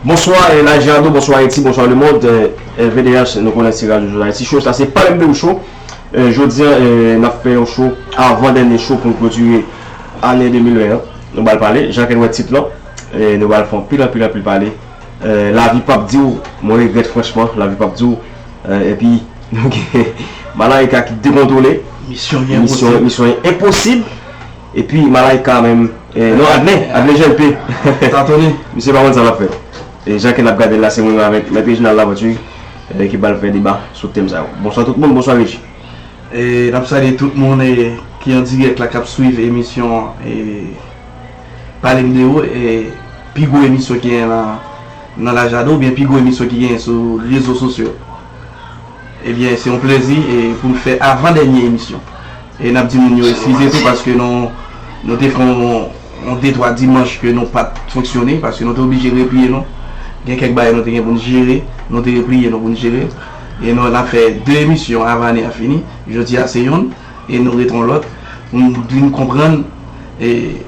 Bonswa Laji Ardo, bonswa Ayiti, bonswa le mond, RVDH nou konnen se Radyo Jèn Ayiti Show, sa se Pale m de ou Show, jodi an n ap fè yon show avan dènye show pou n klotire ane 2020 an, nou bal pale, jan kè n wè tit lan, nou bal fè anpil anpil anpil pale, lavi pap di w mwen regrèt franchman, lavi pap di w, epi nou gen Malaïka ki dekontwole, misyon enposib. Epi Malaïka menm eh non Adlin, Adlin Gelpe Tatouni misye pa konn sa lap fè e jan ke nap gadel la se mwen menm avèk Mèt Reginald Laventure ki pral fè deba sou tèm sa yo. Bonswa tout moun, bonswa Regi. E nap salye tout moun e ki an dirèk la kap swiv emisyon e pale m de ou e pi gwo emisyon ki genyen nan nan lajado oubyen pi gwo emisyon ki genyen sou rezo sosyo. Ebyen se yon plezi pou n fè avan dènye emisyon. E n ap di moun yo eskize tou paske nou te fè yon detwa dimanch ke nou pat fonksyone paske nou te oblije repliye nou. Gen kèk bagay nou te gen pou n jere, nou te repliye nou pou n jere. E nou an ap fè 2 emisyon avan ane a fini. Jodi a se yonn e nou ret yon lòt pou n vin konprann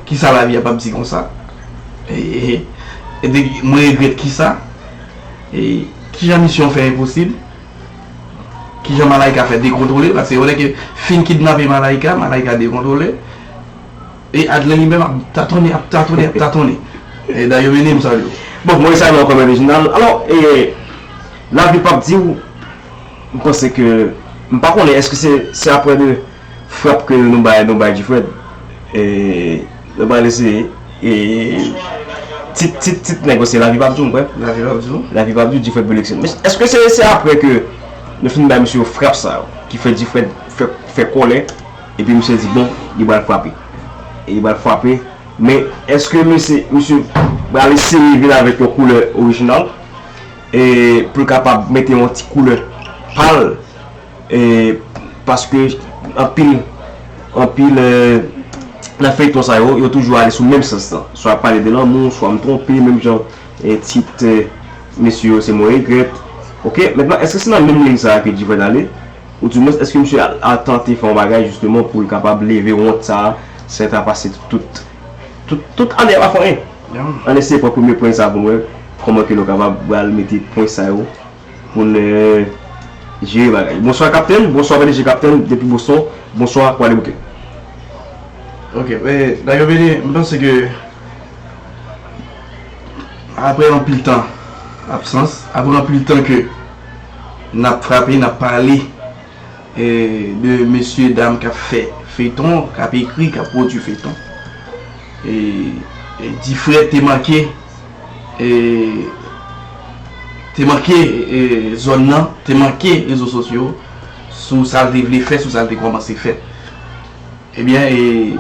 kisa lavi a pap di konsa. E mwen regrèt kisa Kijan misyon fè enposib? Kijan Malaïka fè dekontwole? Paske yon nèg fin kidnape Malaïka, Malaïka dekontwole. E Adlin li menm ap tatonnen, ap tatonnen, ap tatonnen. E dayè yo mennen m sal yo. Bon, mwen wè sa nan kòm orijinal. Alò, lavi pap di ou, m panse ke, m pa konnen, èske se aprè 2? Frap kreyol nou bay nou bay G-fred Nou pral eseye Tit tit tit nèg yo se lavi pap di m brèf Lavi pap di w G-fred Production men èske se aprè ke nou fin bay misye yo frap sa yo ki fè G-fred fè kòlè epi misye di bon li pral frape e li pral frape men èske misye pral eseye vin avèk yon koulè orijinal e pou l kapab mete yon ti koulè pa l Paske anpil anpil nan feyton sa yo, yo toujou ale sou menm sans lan. Swa ap pale de lanmou, swa m twonpe, menm jan tit mesye yo se mwen regrèt. Ok, mentnan eske se nan menm liy sa a ke Djivan ale? Ou di mwens eske misye al tante fè yon bagay jisteman pou l kapab leve wont sa a san l ta pase tout tout ane a pa fè anyen? Ann eseye pran premye pwen sa a pou n wè kòman ke nou kapab pral mete pwen sa yo. Pou le jere bagay. Bonswa kaptenn bonswa pdg kaptenn depi boston bonswa kwadeboukè. Ok Dayou PD m panse ke apre anpil tan absans apre anpil tan ke nap frape nap pale de mesye dam kap fè feyton kap ekri kap pwodwi feyton e difrèt te manke te manke zòn nan, te manke rezo sosyo sou sa l te vle fè, sou sa l te kòmanse fè. Ebyen,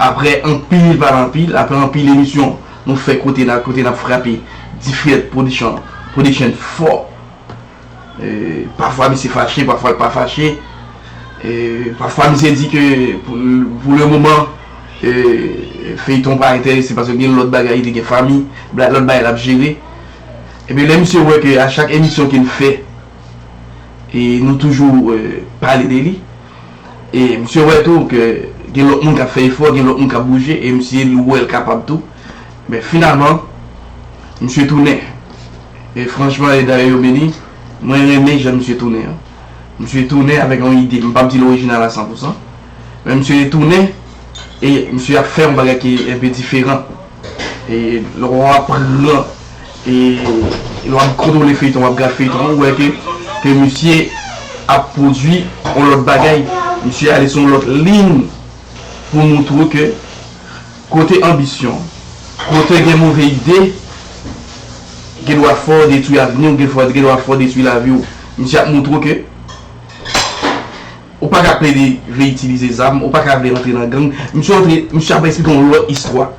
apre anpil pale anpil, apre anpil emisyon nou fè kote n ap frape difyèt pwodiksyon fò Pafwa misye fache, pafwa l pa fache. Pafwa misye di ke pou le moman feyton pa enterese paske gen lòt bagay li gen fanmi, lòt bagay l ap jere. Ebyen lè misye wè ke a chak emisyon ke l fè nou toujou pale de li. e misye wè tou ke gen lòt moun kap fè efò, gen lòt moun kap bouje e misye li wèl kapab tou men finalman misye tounen e franchman e dayè yo beni mwen renmen jan misye tounen an misye tounen avèk yon ide m pap di l orijinal a san pou san men misye tounen e misye ap fè yon bagay ki enpe diferan. E lè w ap pran e lè w ap kontwole feyton w ap gad feyton an ou wè ke misye ap pwodui yon lòt bagay misye ale sou yon lòt liy pou montre ke kote anbisyon kote gen move ide gen dwa fè w detwi avni w gen dwa fè w detwi lavi w misye ap montre w ke Ou paka plede vle itilize zam, ou paka vle rantre nan gang. Misye antre, misye ap esplike yon lòt istwa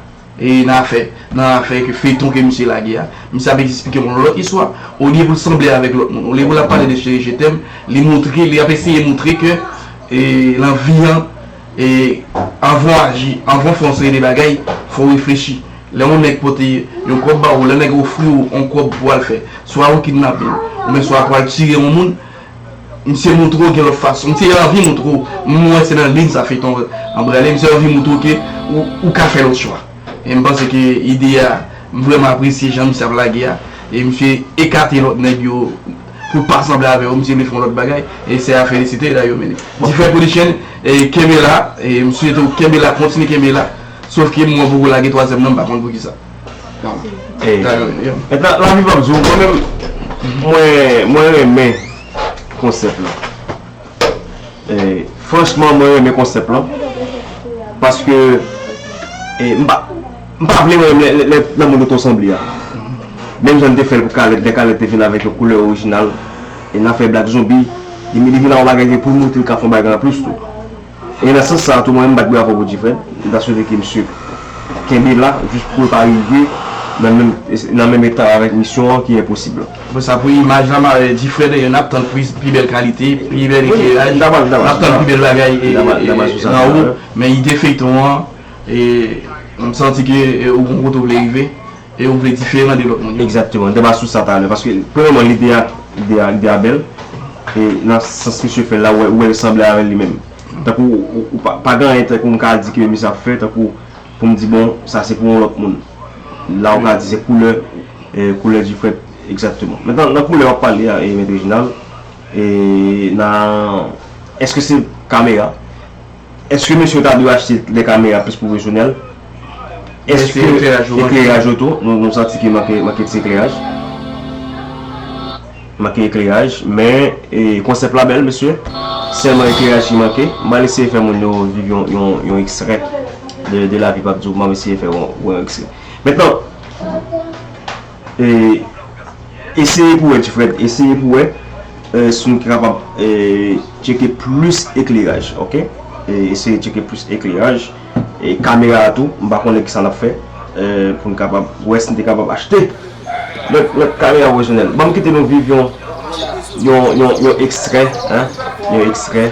e nan afè, nan afè ke feyton ke misye lage a. Misye ap esplike yon lòt istwa olye pou l sanble avèk lòt moun. Olye pou l ap pale de cheri je tèm, li montre, li ap eseye montre ke e nan vi an e anvan w aji, anvan w fè yon seri de bagay, fò w reflechi. Lè yon nèg pote yon kòb ba ou, lè nèg ofri ou yon kòb pou w al fè swa yon kidnaping oubyen swa pou w al tire yon moun, Misye moutre w gen lòt fason. Misye anvi moutre w, m wè se nan liv sa feyton an prale, misye anvi moutre w ke ou ka fè lòt chwa. E m panse ke ide a, m vrèman apresye jan misye ap lage a. E misye ekate lòt nèg yo pou l pa sanble avè yo, misye vle fè yon lòt bagay. E se a felisite la yo mele. Difren Production, kenbe la, e m swete w kenbe la, kontinye kenbe la. Sof ke m wè w poko lage twazyèm nan, m pa konn poukisa. Mwen renmen konsèp la Franchman mwen renmen konsèp la Paske M pa vle wè lè nan moun yo to sanble a Menm jan nou te fè l pou kalèt Lè kalèt te vin avèk yon koulè orijinal E nan fè black zonbi Li vin avèk yon bagay pou l montre l ka fè yon bagay anplis tou E nan sans sa tou mwen menm m bat bravo pou Dfred, m ta swete ke misye kenbe la jis poul pa rive nan menm nan menm eta avèk misyon an ki enposib lan. Bon sa pou imaj la mare Dfred e nap tann plis pi bèl kalite, pi bèl ekleraj, nap tann pi bèl bagay nan ou, men ide feyton an e m santi ke ou gon kote ou vle rive. E ou vle diferan de lòt moun yo. Exactement. M te pral sou sa talè. Paske premyèman lide a lide a lide a bèl. E nan sans misye fè l la ou wè ou wè l sanble avè li menm. Tankou ou pa pa gen anyen tankou m ka di ke misye ap fè tankou pou m di bon sa se pou yon lòt moun. La ou ka di se koulè e koulè di fèt exactement. Mentan nan koulè w ap pale a e Mèt Reginald e nan èske se kamera? Eske mesye yo ta dwe achte de kamera plis pwofesyonèl? Eske ekleraj yo tou, nou santi ke manke ti ekleraj. Manke ekleraj, men konsèp la bèl mesye. Sèlman ekleraj ki manke. M pral eseye fè moun yo viv yon ekstrè de lavi Papdou. M ap eseye fè yon ekstrè. Mentnan. Eseye pou wè ti frèt, eseye pou wè si nou kapab tcheke plis ekleraj ok, eseye tcheke plis ekleraj e kamera a tou m pa konnen kisa l ap fè pou n kapab wè si n te kapab achte lòt kamera pwofesyonèl. Banm kite nou viv yon yon ekstrè yon ekstrè.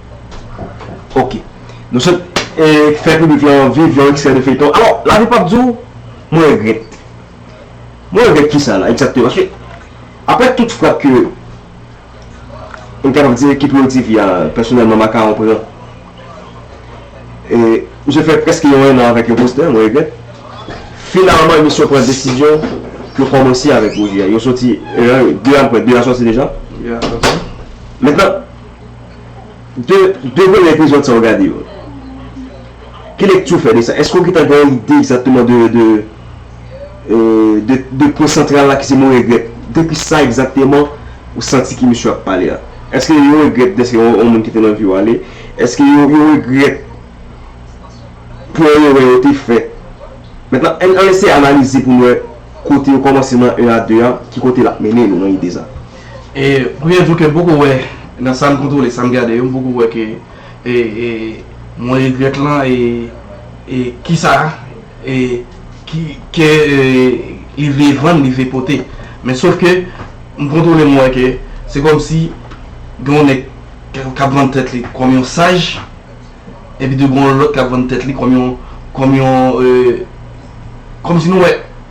Ok Nou sot fè piblik lan viv yon ekstrè de feyton Alò lavi pap di w mwen regrèt Mwen regrèt kisa la egzakteman paske aprè tout frap ke m kapab di ekip Leon TV a pèsonèlman Makawon pran M sot fè prèske yon ennan avèk yon postè mwen regrèt Finalman emisyon pran desizyon pou yo kòmanse avèk pwojè a Yo soti 1 2 a m kwè 2 a soti deja Mentnan 2 premye epizòd sa ou gade yo ki lekti ou fè de sa? Eske ou gentan gen yon ide egzakteman de pwen santral la ki se mo regrèt? De ki sa egzakteman ou santi ke misye ap pale a? Eske yo regrèt dèske yon moun ki te nan vi ou ale? Eske yo regrèt pou yon erè yo te fè? Mentnan ann eseye analize pou nou wè kote yo kòmanse nan 1 a 2 a ki kote l ap mennen nou nan ide sa? E pou yon di w ke m poko wè nan sa m kontwole, sa m gade yo, m poko wè ke mwen regrèt lan e kisa e ke li vle vann, li vle pote. Men sof ke m kontwole m wè ke se kòm si gen yon nèg k ap vann tèt li kòm yon saj epi tou gen yon lòt k ap vann tèt li kòm yon kòm yon kòm si nou wè.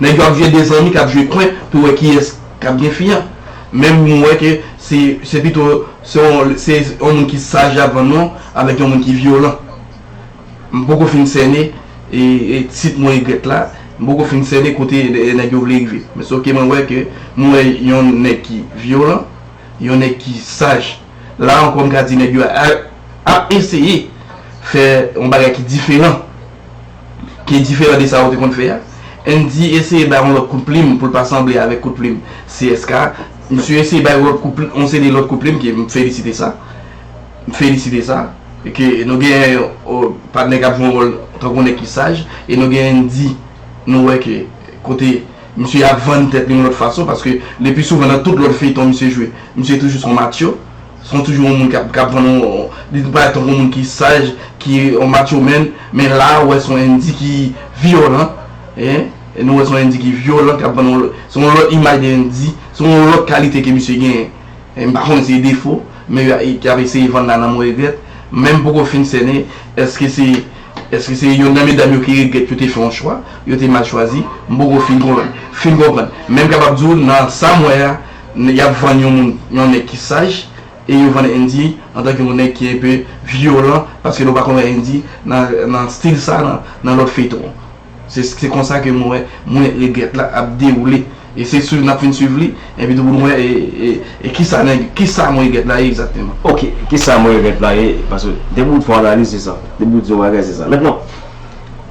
Nèg yo ap jwe 2 zanmi kap jwe prank pou wè kiyès kap gen fi an. Menm m wè ke se se pito se yon se yon moun ki saj yap vann non avèk yon moun ki vyolan. M poko fin sènen e tit mwen egrèt la, m poko fin sènen kote nèg yo vle rive. Men sofke mwen wè ke m wè yon nèg ki vyolan, yon nèg ki saj. La ankò m ka di nèg yo ap eseye fè yon bagay ki diferan, ki e diferan de sa yo te konn fè a. ND eseye bay yon lòt kout plim pou l pa sanble avèk kout plim CSK. Misye eseye bay lòt kout plim, yon seri lòt kout plim ke m felisite sa. M felisite sa. E ke nou gen yon patnè k ap jwe yon wòl tankou yon nèg ki saj. E nou gen ND nou wè ke kote. Misye ap vann tèt li yon lòt fason paske le pi souvan nan tout lòt feyton misye jwe, misye toujou son matcho, son toujou yon moun kap kap vann yon, li toujou parèt tankou yon moun ki saj, ki yon matcho menn, men la ou wè son Andy ki vyolan, hein, nou wè son Andy ki vyolan kap vann yon lòt, se yon lòt imaj de Andy, se yon lòt kalite ke misye genyen, m pa konnen se defo men yap eseye vann la nan mwen regrèt, menm poko fin sènen, eske se. Eske se yonn nan medam yo ki regrèt yo te fè yon chwa yo te mal chwazi? M poko fin konprann. Fin konprann. Men m kapab di w nan sa m wè a, y ap vann yon moun, yon nèg ki saj e yo vann Andy antanke yon nèg ki enpe vyolan paske nou pa konn wè Andy nan nan stil sa nan lòt feyton. Se konsa ke mwen wè regèt la ap dewoule. E se swiv nap vin swiv li epi tou pou nou wè e kisa nèg, kisa mwen regèt la ye egzakteman. Ok, kisa mwen regèt la ye, paske depi ou fè analiz se sa, depi ou di yon bagay se sa. Mentnan,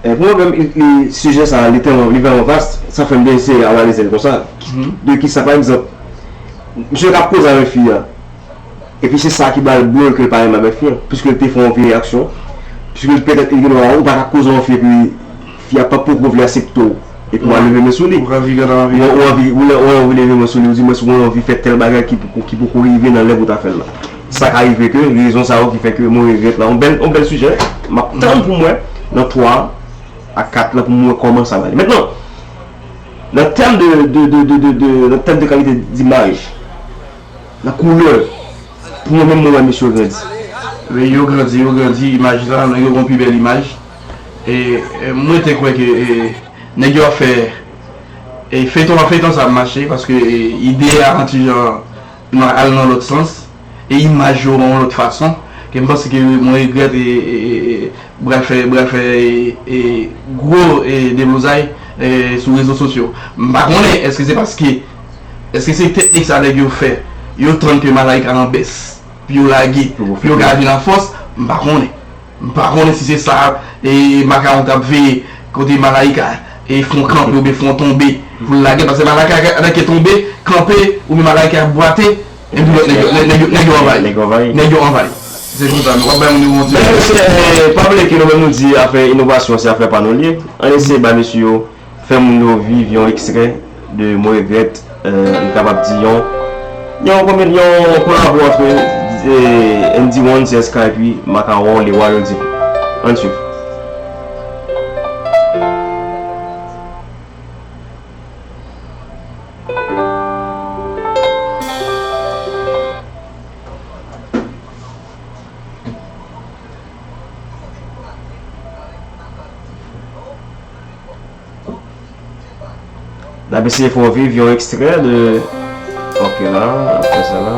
pou mwen menm li sijè sa li tèlman, li vrèman vast, sa fèm te eseye analize l konsa. De kisa pa egzanp, misye kap koze avèk fi a. Epi se sa ki bal blo l ke l pa renmen avèk fi an, piske l te fè yon vye reyaksyon, piske l petèt li gen dwa ou pa ka koze yon fi epi fi a pap poko vle asepte w epi w al leve men sou li, ou anvi leve men sou li oudimwens ou anvi fè tèl bagay ki poko rive nan lè pou w ta fè l lan. Sa ka rive ke rezon sa yo ki fè ke mwen regrèt lan. Yon bèl sijè, m ap tann pou m wè nan 3 a 4 lan pou m wè kòman sa va ye. Mentnan, nan tèm de kalite dimaj. Nan koulè. Pou mwen menm mwen wè mesye yo grandi. Wi yo grandi yo grandi imaj la yo gon pi bèl imaj e mwen te kwè ke nèg yo ap fè e feyton an feyton sa ap mache paske ide a an ti jan nan al nan lòt sans e imaj yo yon lòt fason ke m panse ke mwen regrèt e bral fè bral fè e gwo e deblozay e sou rezo sosyo m pa konnen èske se paske. Eske se teknik sa nèg yo fè, yo tann ke Malaïka an bès, pi yo lage, pi yo ka vin an fòs, m pa konnen. M pa konnen si se sa e Makaron tap veye kote Malaïka e fon kanpe oubyen fon tonbe pou l lage l paske Malaïka nan ke tonbe, kanpe oubyen Malaïka ap bwate epi lòt nèg yo nèg yo anvayi. Nèg yo anvayi. Nèg yo anvayi. Se konsa nou. Wap bay moun yo manti. Mesye, pa bliye ke nou menm nou di afè inovasyon se afè pa nou l ye. Ann eseye bay mesye yo. Fè moun yo viv yon ekstrè de M regrèt m kapab di yon yon konbyen yon kolabo antre Andy One, CSK epi Makawon Lewa yo di nou. Ann swiv. N ap eseye fè w viv yon ekstrè de Ok la, n ap fè sa la.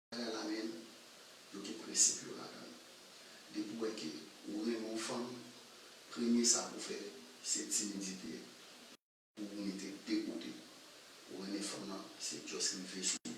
Bagay la menm yo gen prensip yo ladann. Depi w wè ke ou renmen yon fanm, premye sa pou w fè se timidite pou ou mete de kote. Ou renmen fanm lan se just rive sou li.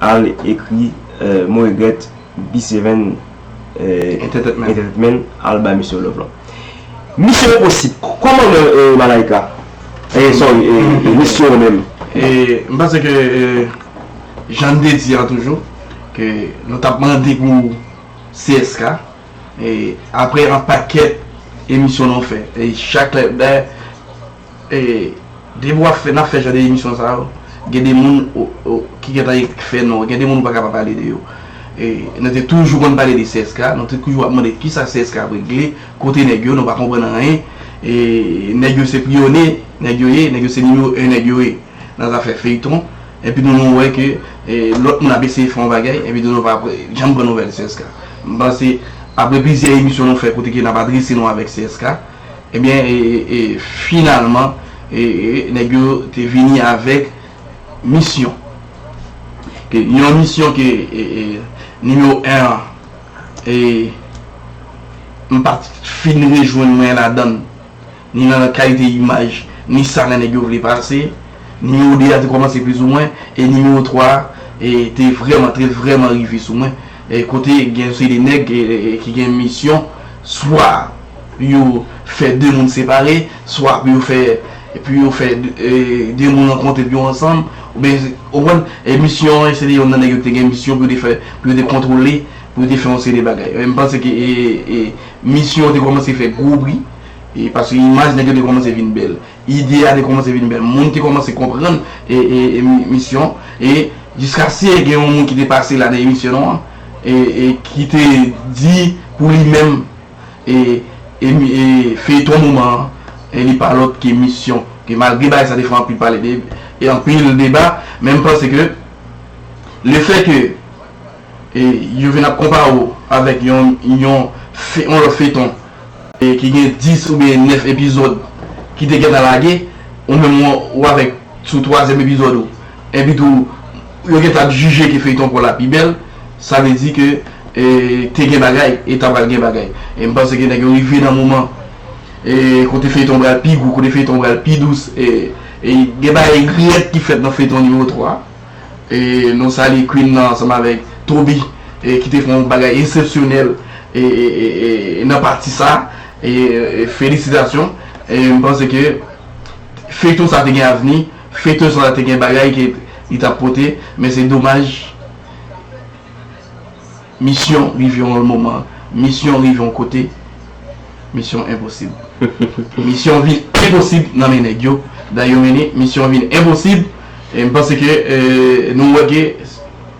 Al ekri mwen regret B7 entertainment al bay misye love lan. Misye enposib koman nan Malaïka eh sorry misye yo menm. E m panse ke jan n te di an toujou ke nou tap mande pou CSK e aprè yon pakèt emisyon nou fè e chak lè dayè. Depi wap fè nap fè jan de emisyon sa yo gen de moun ki gentan ekri fè non gen de moun ou paka pa pale de yo nou te toujou konn pale de CSK nou te toujou ap mande kisa CSK ap regle kote nèg yo nou pa konprann anyen nèg yo se pyone nèg yo ye nèg yo se nimewo 1 nèg yo ye nan zafè feyton epi nou nou wè ke lòt moun ap eseye fè yon bagay epi nou nou pa janm pran nouvèl CSK m panse aprè plizyè emisyon nou fè kote ke nap adrese nou avèk CSK. Ebyen e finalman nèg yo te vini avèk misyon. Yon misyon ke nimewo 1 an e m pa t fin rejwenn mwen ladann ni nan kalite imaj ni sa nèg yo vle pase. Nimewo 2 a te kòmanse plizoumwen e nimewo 3 a te vrèman te vrèman rive sou mwen. kote gen yon seri de nèg ki gen misyon swa pou yo fè 2 moun separe, swa pou yo fè pou yo fè 2 moun rankontre pou yo ansanm oubyen ou konprann e misyon an se te yon nan nèg yo ki te gen misyon pou yo te fè pou yo te kontwole pou yo te fè yon seri de bagay e m panse ke e misyon an te kòmanse fè gwo bri e paske imaj nèg yo te kòmanse vin bèl. Ide a te kòmanse vin bèl. Moun te kòmanse konprann emisyon e jiskase gen yon moun ki te pase la nan emisyon an e ki te di pou li menm feyton moman an li pa lòt ke misyon ke malgre bagay sa te fè anpil pale e anpil deba men m panse ke le fè ke yo vin ap konpare w avèk yon lòt feyton ki gen 10 oubyen 9 epizòd ki te gentan lage, ou menm ou avèk sou twazyèm epizòd ou, epi tou yo gentan ap jije ke feyton paw la pi bèl, sa vle di ke te gen bagay e ta pral gen bagay. E m panse ke nèg yo rive nan moman kote feyton pral pi gou, kote feyton pral pi dous e gen bagay griyèt ki fèt nan feyton nimewo 3. Nou salye Queen nan ansanm avèk Toby ki te fè yon bagay esepsyonèl nan pati sa. Felisitasyon. M panse ke feyton sa te gen avni, feyton sa te gen bagay ke li t ap pote men se domaj. Misyon rive yon moman Misyon rive yon kote Misyon enposib Misyon vin enposib nan men nèg yo Dayè yo mennen Misyon vin enposib M panse ke nou wè ke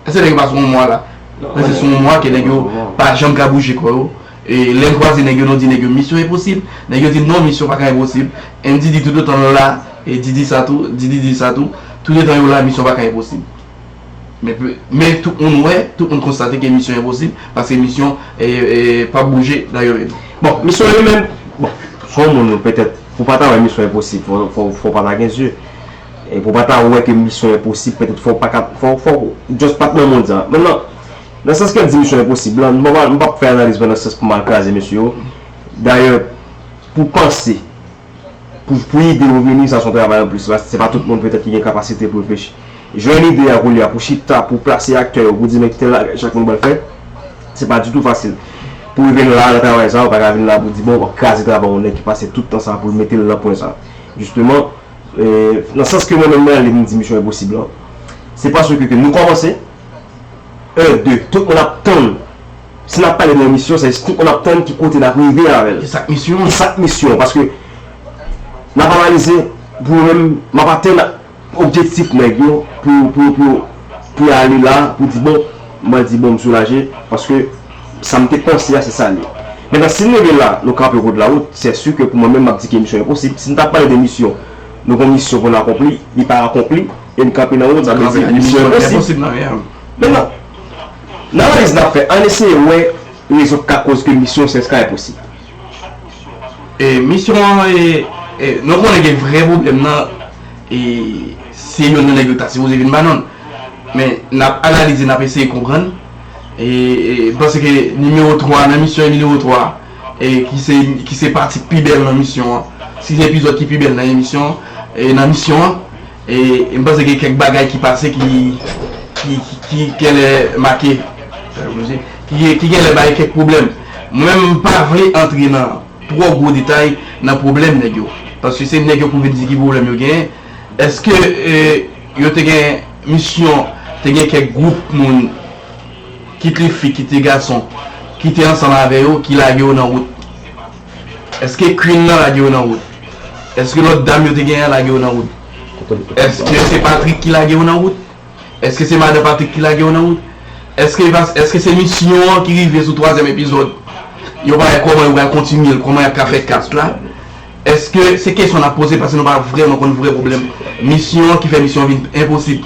Èske nèg yo pa sou yon mwa la Èske se sou yon mwa ke nèg yo pa janm ka bouje kò yo E lè n kwaze nèg yo nou di nèg yo misyon enposib Nèg yo di non misyon pa ka enposib M di di toutotan yo la Didi sa tou Didi di sa tou Toutotan yo la misyon pa ka enposib. Men tout moun wè, tout moun konstate ke misyon enposib, paske misyon pap bouje nan yon minit. Bon, misyon yo menm, bon, si yon moun petèt, pou pa ta wè misyon enposib, fò w pa ta gen zye. Pou w pa ta wè ke misyon enposib, petèt fò w pa ka, fò w just pa t nan mond sa. Mentenan, nan sans ke l di misyon enposib la, m pap fè analiz mwen nan sans pou m al kraze mesye yo. Dayè, pou panse. Pou ide yo vini, sa son travay anplis. Se pa tout moun petèt ki gen kapasite pou reflechi. Jwenn ide a koulye a, pou chita, pou plase aktè yo, pou di men ki tèl bagay chak moun pral fè, se pa ditou fasil. Pou rive la nan travay sa, ou pa ka vin la pou di bon, wap kraze travay yon nèg ki pase tout tan sa pou l mete l nan pwen sa. Jisteman, nan sans ke mwen menm mwen ale m di misyon enposib lan, se paske ke nou kòmanse, 1 2 tout moun ap tann si nap pale de yon misyon se tout moun ap tann ki kote nap rive avèl e sak misyon an e sak misyon an paske nap analize pou mwen menm map atenn objektif nèg yo pou yo pou yo pou yo ale la pou di bon mwen di bon m soulaje paske sam te panse a se sa liye mentan si nou rive la nou kanpe obò de la wout se su ke pou mwen menm map di ke misyon enposib si nou tap pale de misyon nou gon misyon pou nou akonpli li pa akonpli. E m kanpe nan wout, sa vle di misyon enposib. Menmnan, nan analiz n ap fè, ann eseye wè rezon k ka koz ke misyon CSK enposib. E misyon an e, e nou konnen ke vrè pwoblèm nan e se youn nan nèg yo ta sipoze vin ba nou l. Men n ap analize, n ap eseye konprann. E, e m panse ke nimewo 3 nan misyon e nimewo 3 e ki se, ki se pati k pi bèl nan misyon an, si se epizòd ki pi bèl nan emisyon an, e nan misyon an. E m panse gen kèk bagay ki pase ki ki genlè make ki genlè bay kèk pwoblèm. Mwen m pa vle antre nan twò gwo detay nan pwoblèm nèg yo. Paske se nèg yo pou vin di ki pwoblèm yo genyen. Eske yo te gen misyon te gen kèk gwoup moun kit li fi kit li gason ki te ansanm avè yo ki lage yo nan wout. Eske Queen nan lage yo nan wout? Eske lòt dam yo te genyen an lage yo nan wout? Eske se Patrick ki lage yo nan wout? Eske se madan Patrick ki lage yo nan wout? Eske eske se misyon an ki rive sou twazyèm epizòd yo pa wè kòman yo pral kontinye l kòman y ap ka fè kas la? Eske se kesyon n ap poze paske nou pa vrèman konn vrè pwoblèm misyon an ki fè misyon an vin enposib?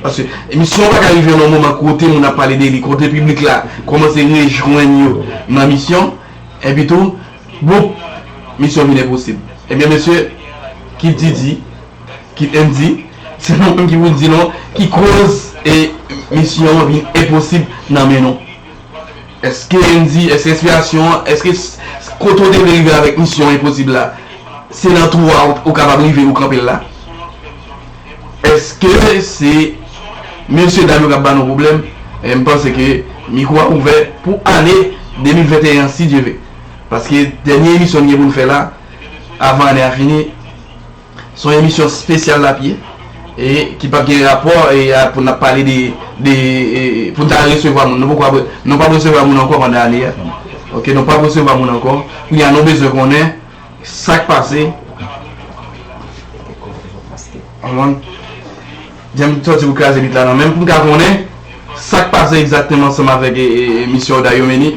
Paske misyon an pa ka rive nan yon moman kote moun ap pale de li kote piblik la kòmanse rejwenn yo nan misyon. Epi tou, boup! Misyon vin enposib. Ebyen mesye, ki di di, ki Andy, se nou menm ki pou n di nou, ki koz misyon an vin enposib nan men nou? Eske Andy, eske enspirasyon an, eske kote w te vle rive avèk misyon enposib la, se nan twou a ou kapab rive ou kanpe la? Eske se mesye dam yo kap ba nou pwoblèm e m panse ke mikwo a ouvè pou ane 2021 an si Dye ve paske dènye emisyon n gen pou n fè la avan ane a fini s on emisyon spesyal lap ye e ki pap gen rapò e a pou n ap pale de de pou n ta resevwa moun nou poko nou pap resevwa moun ankò pandan ane a ok nou pap resevwa moun ankò kounye a nou bezwen konnen Sak pase? Anmwey. Janm t soti pou kraze bit la nan menm poum ka konnen sak pase egzakteman ansanm avèk misyon Odayomeni.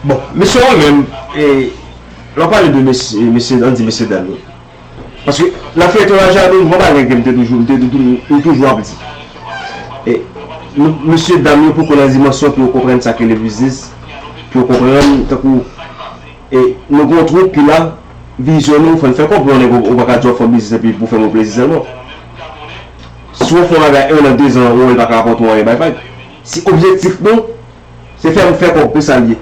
Bon, mesye yo menm, lè w pale de mesye, an n di mesye dam yo. Paske nan feyton la Jadoo bon bagay kem te toujou m toujou ap di mesye dam yo poko nan dimansyon pou yo konprann sak rele biznis pou yo konprann tankou nou gon twoup ki la vizyon nou fòn fè kòb pou yon nèg ou paka di wap fè yon biznis epi pou fè moun plezi sèlman si wap fè yon bagay 1 an 2 zan ou wè li paka rapòte ou anyen bay bay si objektif nou Se fè moun fè kòb, se sa l ye.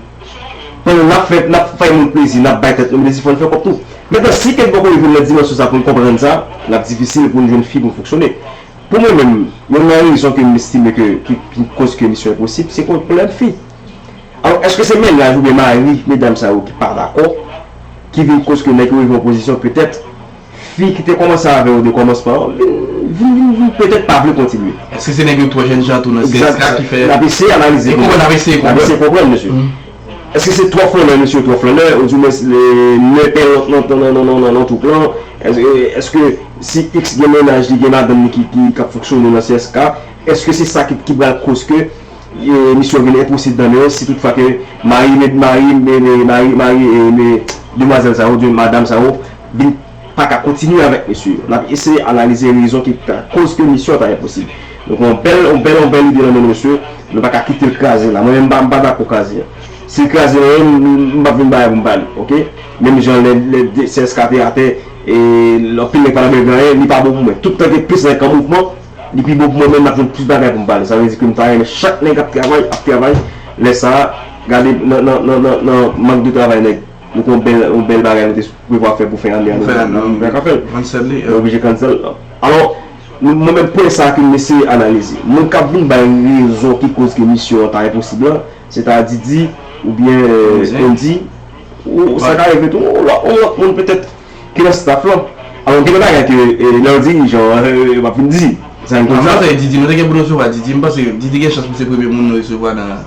Pandan n ap fè fè moun plezi, n ap bay tèt nou plezi, fò n fè kòb tou. Mentnan, si kèk bòkò yo vin nan dimansyon sa a pou n konprann sa, l ap difisil pou n jwenn fi pou n fonksyone. Pou mwen menm, yonn nan rezon ke m estime ke ki koz ke misyon enposib, se koz pwoblèm fi. Alò, èske se mennaj oubyen mari medam sa yo ki pa dakò ki vin koz ke nèg yo rive yon pozisyon? Petèt. Fi ki te kòmanse avè w de kòmansman an vin vin petèt pa vle kontinye. Èske se nèg yo twò jènjan tou nan sèks la ki fè. N ap eseye analize. N ap eseye konprann. N ap eseye konprann mesye. Èske se twò flannè mesye yo twò flannè oudimwens nen pè lòt lan nan twoup lan? Èske si iks gen mennaj li gen madanm li ki k ap fonksyone nan sèks la èske se sa ki pral koz ke misyon vin enposib nan men yo si tout fwa ke mari mari mari mari demwazèl sa yo oubyen madam sa yo Vin pa ka kontinye avèk mesye yo. N ap eseye analize rezon ki ka koz ke misyon an ta enposib. Nou gen yon bèl yon bèl yon bèl ide nan men nou mesye, nou pa ka kite l kraze la. Mwen menm m pa m pa dakò kraze l. Si l kraze mwen menm m p ap vin bagay pou m ba li ok. Menm jan lè lè CSK te atè e anpil nèg pa t ap gen anyen li pa bon pou mwen. Tout tan gen plis nèg k an mouvman li pi bon pou mwen menm m ap jwenn plis bagay pou m ba li. Sa vle di ke m ta renmen chak nèg ap travay ap travay lè sa a gade nan nan nan nan nan mank de travay nèg. Nou kon yon bèl bagay nou te prevwa fè pou fen ane an nou pa ka fèl, nou oblije cancel l. Alò, mwen menm pwen sa ke m eseye analize. Moun k ap vin bay rezon ki koz ke misyon an ta enposib lan, se ta Didi oubyen Indy, ou sa ka rive tou yon lòt moun petèt ki nan staff lan. Alò gen de bagay ke lè w di jan yo ap vin di. Mwen te gen pou n resevwa Didi, m panse Didi gen chans pou se premye moun nou resevwa nan.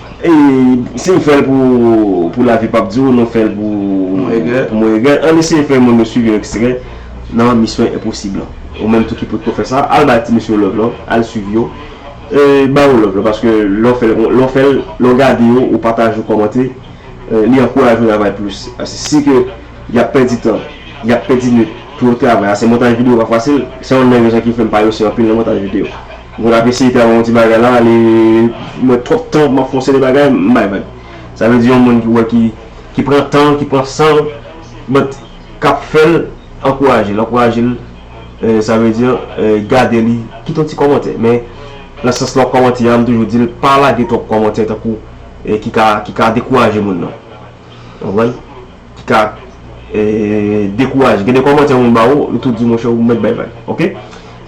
Si m fè l pou lavi pap di w non fè l pou mwen egre Ann eseye fè mwen nou swiv yon ekstrè nan Misyon Enposib lan Ou menm tou ki potko fè sa al bay ti mesye yo love lan al swiv yo e ba yo love lan paske lè w fè l lè w gade yo ou pataje ou kòmante li ankouraje yo travay plis paske si ke y ap pèdi tan y ap pèdi nwit pou yo travay ase montaj videyo pa fasil se youn nan rezon ki fè m pa resi anpil nan montaj videyo. Mwen ap eseye travay yon ti bagay la ale mwen twòp tan map fon seri bagay m bay vag sa vle di yon moun ki wè ki ki pran tan ki pran sanl but kap fèl ankourajel ankourajel sa vle di gade li kite yon ti kòmantè men nan sans lòt kòmantè a m toujou dil pa lage twòp kòmantè tankou ki ka ki ka dekouraje moun nan ou konprann. ki ka dekouraje gen de kòmantè moun ba ou yo tou di monchè ou mèt bay vag ok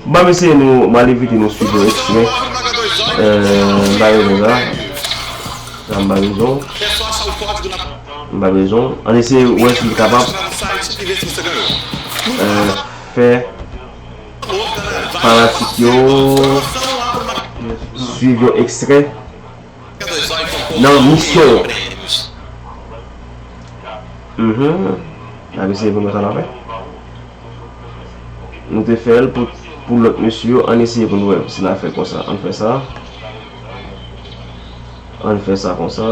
m'ap eseye nou m'al evite nou swiv yon eksprè m'pa rezon sa sa m'pa rezon m'pa rezon an eseye wè si nou kapab fè fanatik yo swiv yon eksprè Nan misyon Nou te fè l pou lòt mesye yo Ann eseye pou n wè si n a fè konsa Ann fè sa Ann fè sa konsa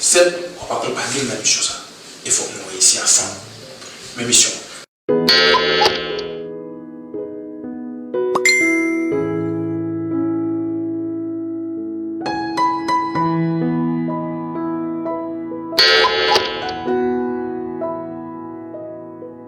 Seb wap pa konn pa gem nan misyon sa e fok nou reyisi ansanm men misyon.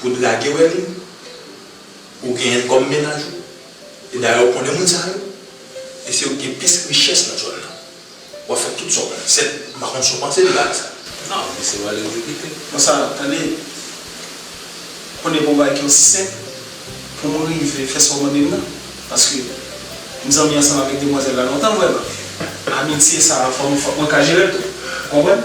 Pou drage Werlin ou genyen kòm mennaj ou e dayè ou konnen moun sa yo e se yo ki gen plis richès nan zòn nan wap fè tout sa ou konnen sèl m pa konn sa ou panse de bagay sa. Nan, li se wale ou te kite. Konsa tande Konde pou yon bagay ki osi senp pou m rive fè sa ou mande m nan paske m zanmi ansanm avèk demwazèl la lontan vrèman amitye sa fò mwen ka jere l tou ou konprann.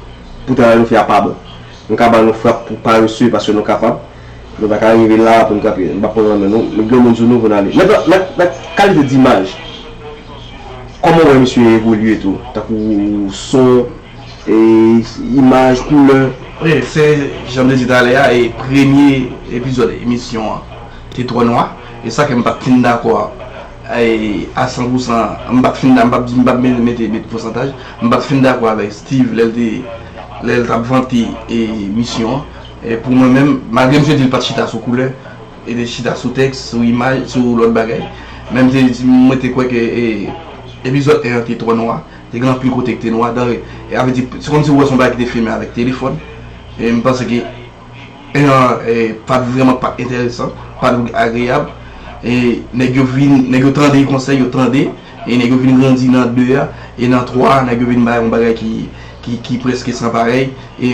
pou travay nou fè a pa bon. Nou ka ba nou frap pou parese paske nou kapab. Nou pa ka rive la a pou nou kanpe. M pa p pran l nan men nou. Met granmoun sou nou pou n ale. Mètnan, nan kalite dimaj, kòman w wè misye evolye tou? Tankou son, imaj, koulè? Wi, se jan m te di talè a, e premye epizòd emisyon an te twò nwa. E sa fè m pa t fin dakò A san pou san, m pa t fin da, m pap di, m pap mele mete met pousantaj, m pa t fin dakò avèk Steve lè l te, lè l t ap vante misyon an. Pou mwen menm, malgre misye di l pa t chita sou koulè, li te chita sou tèks, sou imaj, sou lòt bagay, men m te, mwen te kwè ke epizòd 1 an te twò nwa, te gen anpil kote ki te nwa, sa vle di, se kòmsi ou wè se yon bagay ki te filme avèk telefòn, e m panse ke. Jan pat vrèman pat entèresan, pat agreyab, nèg yo vin, nèg yo tande konsèy yo tande, e nèg yo vin grandi nan 2 a, e nan 3 a nèg yo vin bay yon bagay ki prèske san parèy, e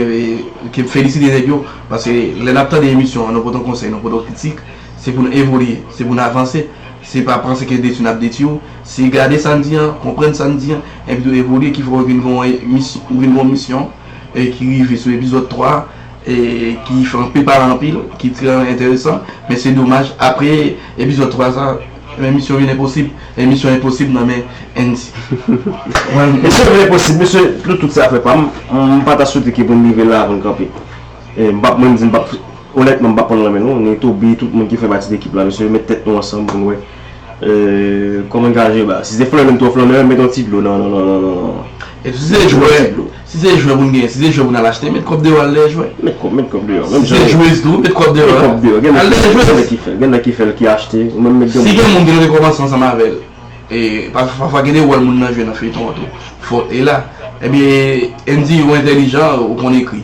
kem felisite nèg yo, paske lè nap tande emisyon an nou pot yon konsèy nou pot yon kritik, se pou nou evolye, se pou nou avanse, se pa panse ke detwi nap detwi ou, se gade sa n di an, konprann sa n di an, epi tou evolye ki fè ou vin gen yon misyon. ki rive sou epizòd 3 e ki fè anpil pale anpil ki trè enteresan men se domaj apre epizòd 3 sa emisyon vin enposib emisyon enposib nan men Andy emisyon vin enposib mesye nou tout se afè pa m m pa ta swete ke pou n rive la a pou n kanpe m pa mwen m di m pa p onètman m pa p pran l nan men nou ni Toby tout moun ki fè pati de ekip la mesye mete tèt nou ansanm pou n wè kòman n ka jere bagay la si se flannè n twò flannè mete yon ti dlo nan Epi si se jwè, si se jwè pou n gen, si se jwè pou n al achte, met kòb deyò al dèyè jwè. Met kòb, met kòb deyò. Si se jwez tou, met kòb deyò. Met kòb deyò. Gen nèg ki fè l, gen nèg ki fè l ki achte. Ou menm met gen moun. Si gen moun ki nou te kòmanse ansanm avè l, e pafwa gen de wòl moun nan jwe nan feyton an tou. Fòt e la. Ebyen Andy ou entèlijan, ou konn ekri.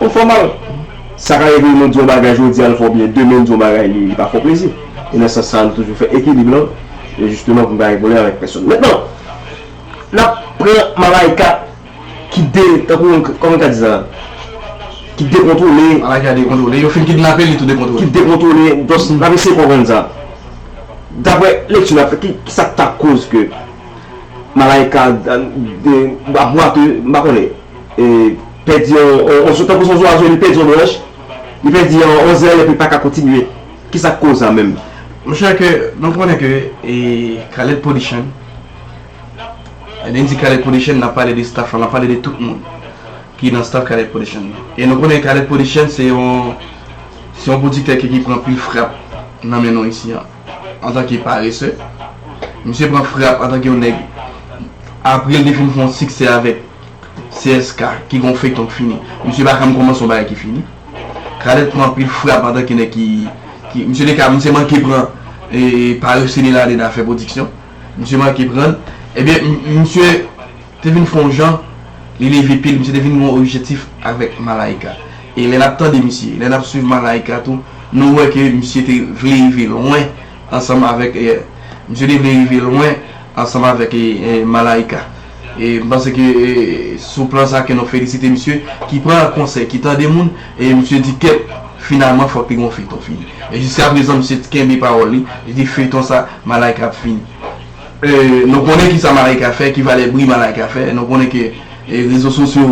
Ou fò mal. Sa ka rive nou di yon bagay jodi a nou fè w byen demen nou di yon bagay li pa fè w plezi. E nan sans sa nou toujou fè ekilib lan e jisteman pou nou pa rigole avèk pèsonn. Mentnan, n ap pran Malaïka ki de tankou yon kòman n ka di sa ki dekontwole. Malaïka dekontwole. Yo fin kidnape l li tou dekontwole. Ki dekontwole. Dòs n ap eseye konprann sa. Daprè lekti n ap fè ki sa k ta koz ke Malaïka ap bwate m pa konnen e. Pèdi yon on tankou son zwazo li pèdi yon branch li pèdi yon zèl epi paka kontinye kisa k koz sa menm? Mon cher ke nou konnen ke e Khaled Production lè n di Khaled Production nap pale de staff lan nap pale de tout moun ki nan staff Khaled Production lan e nou konnen Khaled Production se yon se yon pwodiktè ke ki pran pil frap nan men nou isi an antanke parese misye pran frap antanke yon nèg apre l te fin fon siksè avèk CSK ki gen yon feyton k fini misye pa janm komanse yon bagay ki fini Khaled pran anpil frap antan ke nèg ki ki misye te ka misye manke pran parese li la de nan afè pwodiksyon misye manke prann ebyen misye te vin fon jan li leve pyel misye te vin gen yon objetif avèk Malaïka e lè nap tande misye lè nap swiv Malaïka tou nou wè ke misye te vle rive lwen ansanm avèk misye te vle rive lwen ansanm avèk Malaïka E m panse ke sou plan sa ke nou felisite misye ki pran konsèy, ki tande moun e misye di kèt finalman fòk te gen yon feyton fini. E jiskaprezan misye t kenbe pawòl li, li di feyton sa Malaïka ap fini. Nou konnen kisa Malaïka fè, ki valè bri Malaïka fè, nou konnen ke rezo sosyo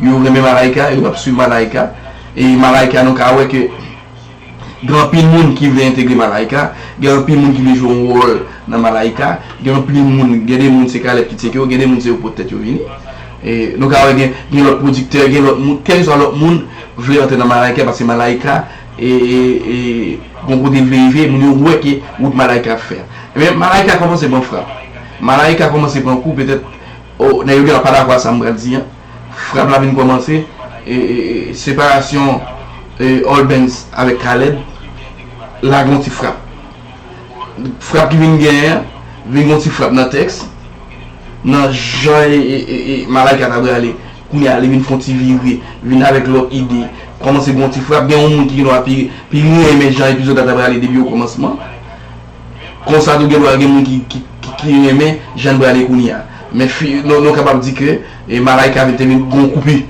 yo renmen Malaïka, yo ap swiv Malaïka e Malaïka nou ka wè ke. Gen anpil moun ki vle entegre Malaïka, gen anpil moun ki vle jwe yon wòl nan Malaïka, gen anpil moun, gen de moun se Caleb ki tyeke yo, gen de moun se yo pot tèt yo vini. E nou ka wè gen, gen lòt pwodiktè, gen lòt moun, kèlkeswa lòt moun vle antre nan Malaïka paske Malaïka e, e, e gon kote l vle rive e moun yo wè ke wout Malaïka ap fè a. Ebyen Malaïka kòmanse pran frap. Malaïka kòmanse pran kou petèt o, nèg yo genlè pa dakò a sa m pral di an. Frap la vin kòmanse e separasyon Olbens avèk Khaled lage yon ti frap. Frap ki vin genyen an vin gen yon ti frap nan tèks nan jan e Malaïka ta prale kounye a li vin fè yon ti vire vin avèk lòt ide kòmanse gen yon ti frap gen yon moun ki gen dwa pi renmen jan epizòd la ta prale depi okòmansman. Konsa tou gendwa gen moun ki renmen jan Brad ye kounya. Men nou kapab di ke Malaïka vin te vin gen yon koupi.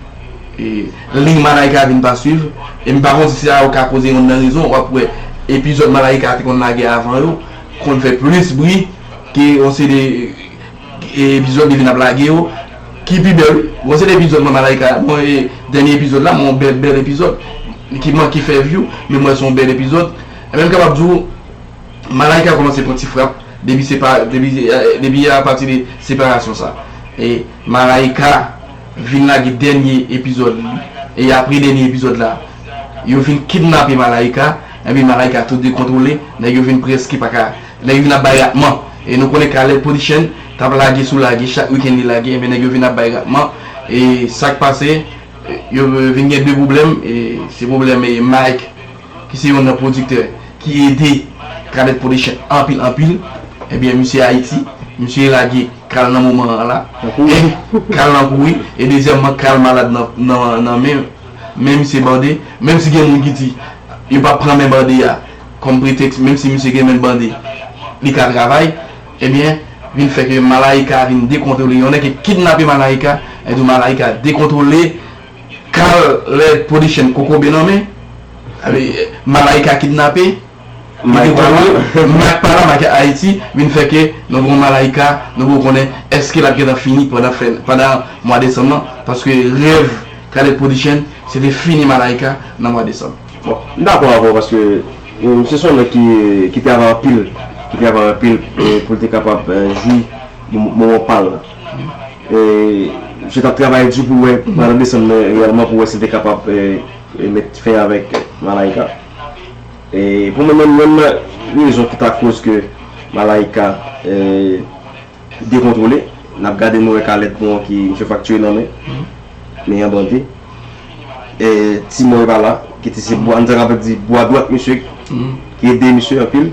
Liy Malaïka vin pa swiv. E m pa konn si sa yo ka koze yon nan rezon w ap wè epizòd Malaïka te konn lage avan yo konn fè plis bri ke yon seri epizòd li vin ap lage yo ki pi bèl. Yon seri epizòd mwen Malaïka mwen dènye epizòd la mwen wè yon bèl epizòd ki manke fè vyou men m wè se yon bèl epizòd. Anben m kapab di w. Malaika kòmanse pran ti frap depi se pa depi depi a pati de separasyon sa e Malaika vin lage dènye epizòd li e apre dènye epizòd la yo vin kidnape Malaika epi Malaika tou dekontwole nèg yo vin prèske paka nèg yo vin ap bay ratman e nou konnen Khaled Production tap lage sou lage chak weekend li lage enben nèg yo vin ap bay ratman e sak pase yo vin gen 2 pwoblèm e se pwoblèm e Mike. ki se yonn nan pwodiktè ki ede Khaled Production anpil anpil ebyen misye Ayiti misye lage Khal nan moman an la Khal nan kouri e dezyèmman Khal malad nan men men misye bande menm si gen moun ki di yo pa pran men bande a kòm pretèks menm si misye gen men bande li ka travay ebyen vin fè ke Malaïka vin dekontwole yon nèg ki kidnape Malaïka etou Malaïka dekontwole. Kal rèd production kokobe nan men Malaïka kidnape Mike pa la Mike pa la Mike Haïti vin fè ke nou gon Malaïka nou poko konnen eske lap gentan fini pandan fè pandan mwa desanm lan paske rèv kal rèd production se te fini Malaïka nan mwa desanm. Bon m dakò avèw paske misye se yon nèg ki travay anpil ki travay anpil pou l te kapab jwi moman pa l lan. Msye t ap travay di pou l wè madan Desann nan reyèlman pou wè si l te kapab met fen avèk Malaïka. E pou mwen menm, yonn nan rezon ki ta koz ke Malaïka dekontwole, n ap gade nou wè kalèt mò ki msye fraktire nan men, men yan bande. Ti mò yo pa la, ki te se bwa, nou ta kapab di bwa dwat msye, ki ede msye anpil.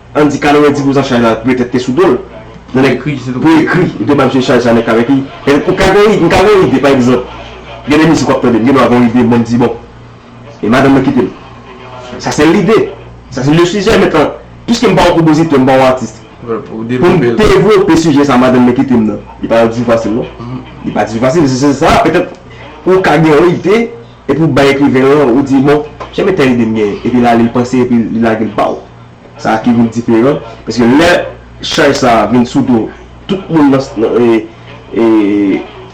Andy ka lonmen di vouzan chaj la pete te sou dol nan nèg pou ekri epi banm se chaj sa nèg ka avèk li and ou ka gen mka gen yon ide pa egzanp gen de mizik wap tande mgendwa gen yon ide banm di bon e madanm nan kitem sa se lide sa se le sijè men tan piske mpa yon konpozitè mpa yon atis poum devlope sijè sa madanm nan kitem nan li pa yon difi fasil non li pa difi fasil se sa petèt ou ka gen yon ide. Epi ou bay ekriven an, ou di, bon, jan men tèl ide m genyen, epi la li l panse epi li lage l ba w. Sa a ki vin diferan, paske lè chaj sa a vin sou do tout moun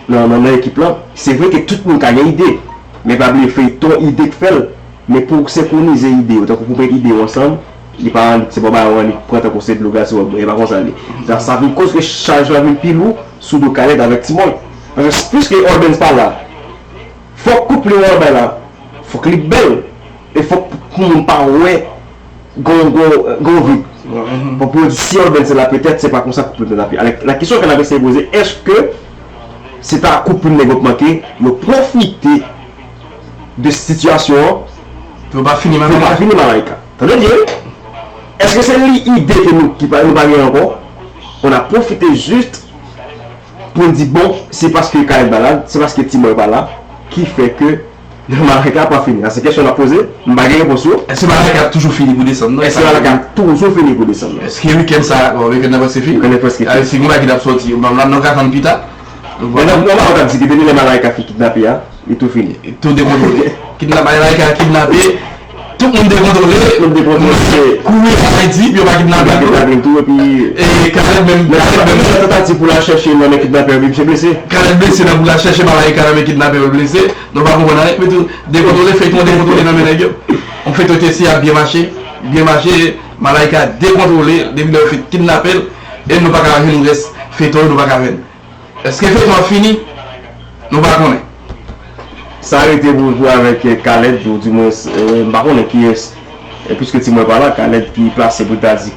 nan nan ekip lan, se vre ke tout moun ka gen ide, men pa bliye feyton ide k fè l, men pou w senkwonize ide yo, tankou pou w met ide yo ansanm, li pa an, se pa w bay yon an li pran tankou se dlo glase w ap bwè, e pa konsa l ye. Donk sa vin koz ke chaj la vin pi lou sou do Khaled avèk Ti Mòn. Paske piske Orbens pa la. Fòk kouple wap bay la fòk li bèl e fòk pou moun pa wè gon gon vid fòk pou yo di si yo bèl se la petèt se pa konsa kouple mèt ap ye alèk la kesyon ke nap eseye poze eske se ta kouple nèg yo t manke yo pwofite de sitiyasyon an pou yo pa fini malayika tande byen wi eske se li ide ke nou ki pa nou pa gen ankò pou nap pwofite jis. Pou n di bon se paske ka yon malad, se paske ti mwen pa la ki fè ke marenn ka pa fini la? Se kesyon n ap poze, m pa gen repons yo. Eske marenn ka toujou fini pou desanm nan? Eske marenn ka toujou fini pou desanm nan? Eske wikenn sa a, bon wikenn nan preske fini. Wikenn nan preske fini. Alè si gen bagay ki t ap soti, m pa m la, nou ka tann pita. Men nan mwa ou t ap di ke depi lè marenn ka fin kidnape a, li tou fini. Tou dekontrole. Kidnap, marenn ka kidnape. Tout moun dekontwole, kouri al Ayiti pou yo pa kidnape l tou epi Caleb menm blese nan pou l al chèche bagay Caleb e kidnapè yo l blese nou pa konprann anyen men tou dekontwole feyton an dekontwole nan men nèg yo yon feyton te siy ap byen mache byen mache Malaïka dekontwole depi lè yo fin kidnape l e nou paka jwenn rès feyton an nou paka wè l. Eske feyton an fini nou pa konnen. Sa rete pou jwe avèk Khaled ou di mwens m pa konnen kiyès piske ti mwen pa la Khaled ki plase pou l ta di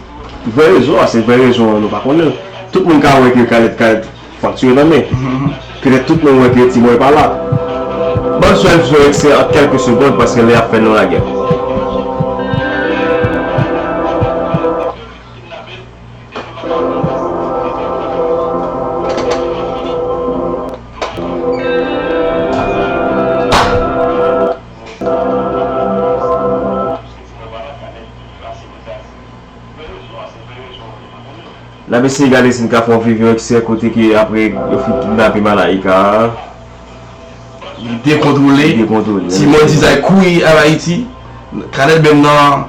vrè rezon an se vrè rezon an nou pa konnen l tout moun ka wè ke Khaled Khaled fwa tiyo nan men petèt tout moun wè ke ti mwen pa la bann swè l swè se an kèlke segond paske lè y ap fè nou lagè. N ap eseye gade si n ka fè yon viv yon eksè kote ke apre yo fin kidnape Malaïka a, li dekontwole, Ti Mò Dizay kouri al Ayiti, Kanèt menm nan.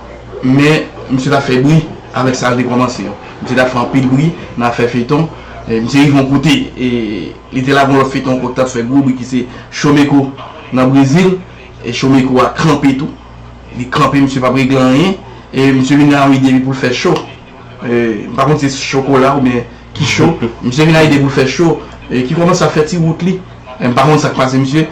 Men misye tap fè bri avèk sa l te kòmanse yo. Misye tap fè anpil bri nan afè feyton. Misye rive yon kote, li te lage yon lòt feyton ankò ki tap fè gwo bri ki se Chomeko nan Brezil. E Chomeko a kanpe tou. Li kanpe misye pap regle anyen. E misye vin nan yon ide li pou l fè cho. M pa konn si se chokola oubyen ki cho. Misye vin nan ide pou l fè cho. Ki kòmanse ap fè ti wout li. M pa konn sa k pase misye.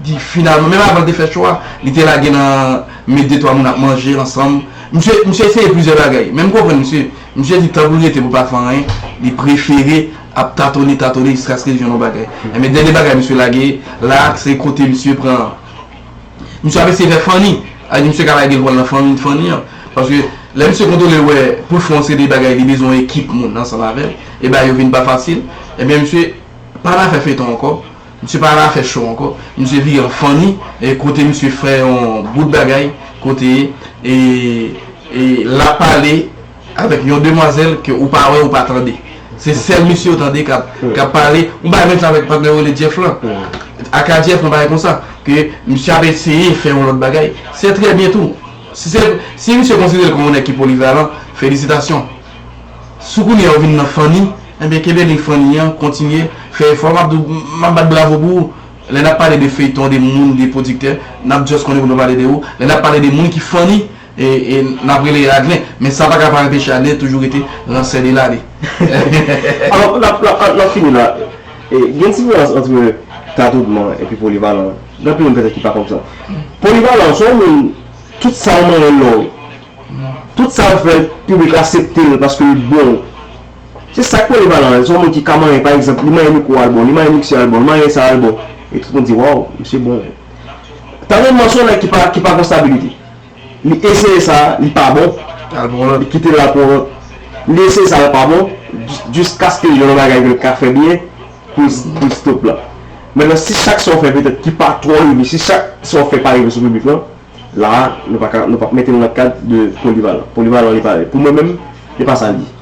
di finalman menm avan l te fè chwa li te lage nan met de twa moun ap manje ansanm misye misye eseye plizyè bagay men m konprann misye misye di tan pou l rete pou l pa fè anyen li prefere ap tatone tatone jiskaske li jwenn yon bagay enben dènye bagay misye lage la se kote misye pran misye ap eseye fè funny a di misye ka lage l pou al nan fanmi funny an paske lè misye kontwole l wè pou l fè yon seri de bagay li bezwen yon ekip moun ansanm avè l e bagay yo vin pa fasil enben misye pa nan fè feyton ankò. Misye pa al afè show ankò, misye vire an funny e kote misye fè yon bout bagay kote e e lap pale avèk yon demwazèl ke ou pa wè ou pa tande. Se sèl misye ou tande kap kap pale. Yon bagay menm jan avèk patnè yo rele Jeff lan. Aka Jeff yon bagay konsa ke misye ap eseye fè yon lòt bagay. Se trè byen tou. Si se si misye konsidere l kòm yon nèg ki polivalan, felisitasyon. Sou kounye a ou vin nan funny. Ebyen kenbe liy funny an kontinye fè efò map di map bat bravo pou ou lè nap pale de feyton de moun de pwodiktè nap just konnen pou nou pale de ou lè nap pale de moun ki funny nap rele Adlin men sa paka pa anpeche Adlin toujou rete ransè de lane. Alò nap fini la gen diferans antre tatoudman epi polivalan gen anpil moun petèt ki pa konn sa polivalan se yon moun tout sa ou manyen lè ou tout sa ou fè piblik la aseptel paske l bon. Se sak rele valan an, se yon moun ki ka manyen pa egzanp li manyen mikwo al bon, li manyen miksè al bon, li manyen sa al bon e tout moun di waw misye bon wi. Talman m se yon nèg ki pa ki pa pran stabilite. Li eseye sa, li pa bon, al pran yon lòt, li kite l al pran yon lòt, li eseye sa l pa bon jiskaske li jwenn yon bagay ke l ka fè byen pou l pou l stop la. Mentnan si chak sa w fè petèt ki pa twò rive, si chak sa w fè pa rive sou piblik lan, la a nou pa ka nou p ap mete l nan kad de polivalan. Polivalan li pa pou mwen menm li pa sa l ye.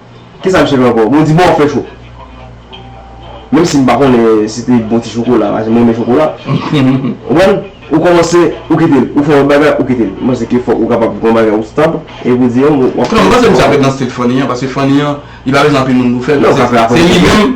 Kisa misye vle ankò? Bon di bòw fè cho. Menm si m pa konnen si te bon ti chokola paske m renmen chokola. Ou konprann? Ou kòmanse, ou kite l. Ou fè yon bagay, ou kite l. M panse ke fòk ou kapab pou yon bagay ou stab e pou di yon wap fè. Non, m panse misye ap ret nan stil funny an paske funny an li pa bezwen anpil moun pou fè l. Se li menm.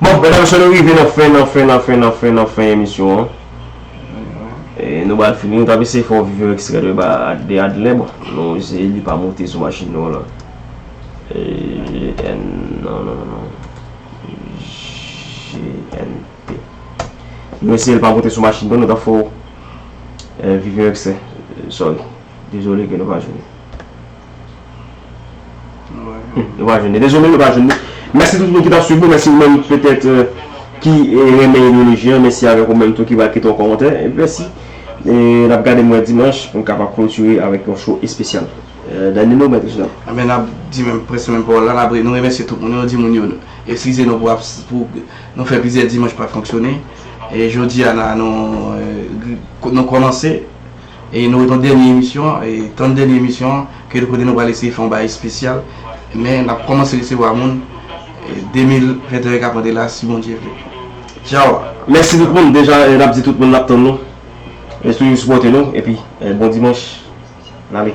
Bon, mèdam se nou rive nan fen, nan fen, nan fen, nan fen, nan fen emisyon an. E nou bal fini, nou tap eseye fè yon video ekstrè de ba de Adlè bon. Nou eseye li pa monte sou machin nou lan. E, en, nan, nan, nan, nan. Je, en. Mwen eseye l pa monte sou machin non nou ta fo viv yon eksè sorry dezole ke nou pa jwenn Nou pa jwenn li dezole nou pa jwenn li Mèsi tout moun ki tap swiv nou mèsi ou menm petèt ki renmen ideyoloji an mèsi avèk ou menm tou ki pral kite yon kòmantè mèsi nap gade mwen dimanch pou m kapab klotire avèk yon show espesyal Danilo mèt ou Amèn nap di menm prèske menm pawòl la nou remèsye tout moun nou di moun yo eskize nou pou Nou fè plizyè dimanch pat fonksyone e jodi a la nou kòmanse e nou ret nan dènye emisyon an e tann dènye emisyon an ke kote nou pral eseye fè yon bagay espesyal men nap kòmanse resevwa moun 2021 kap rantre la si Bondye vle Tchaoo. Mèsi tout moun deja e nap di tout moun nap tann nou e toujou sipòte nou epi bon dimanch nale.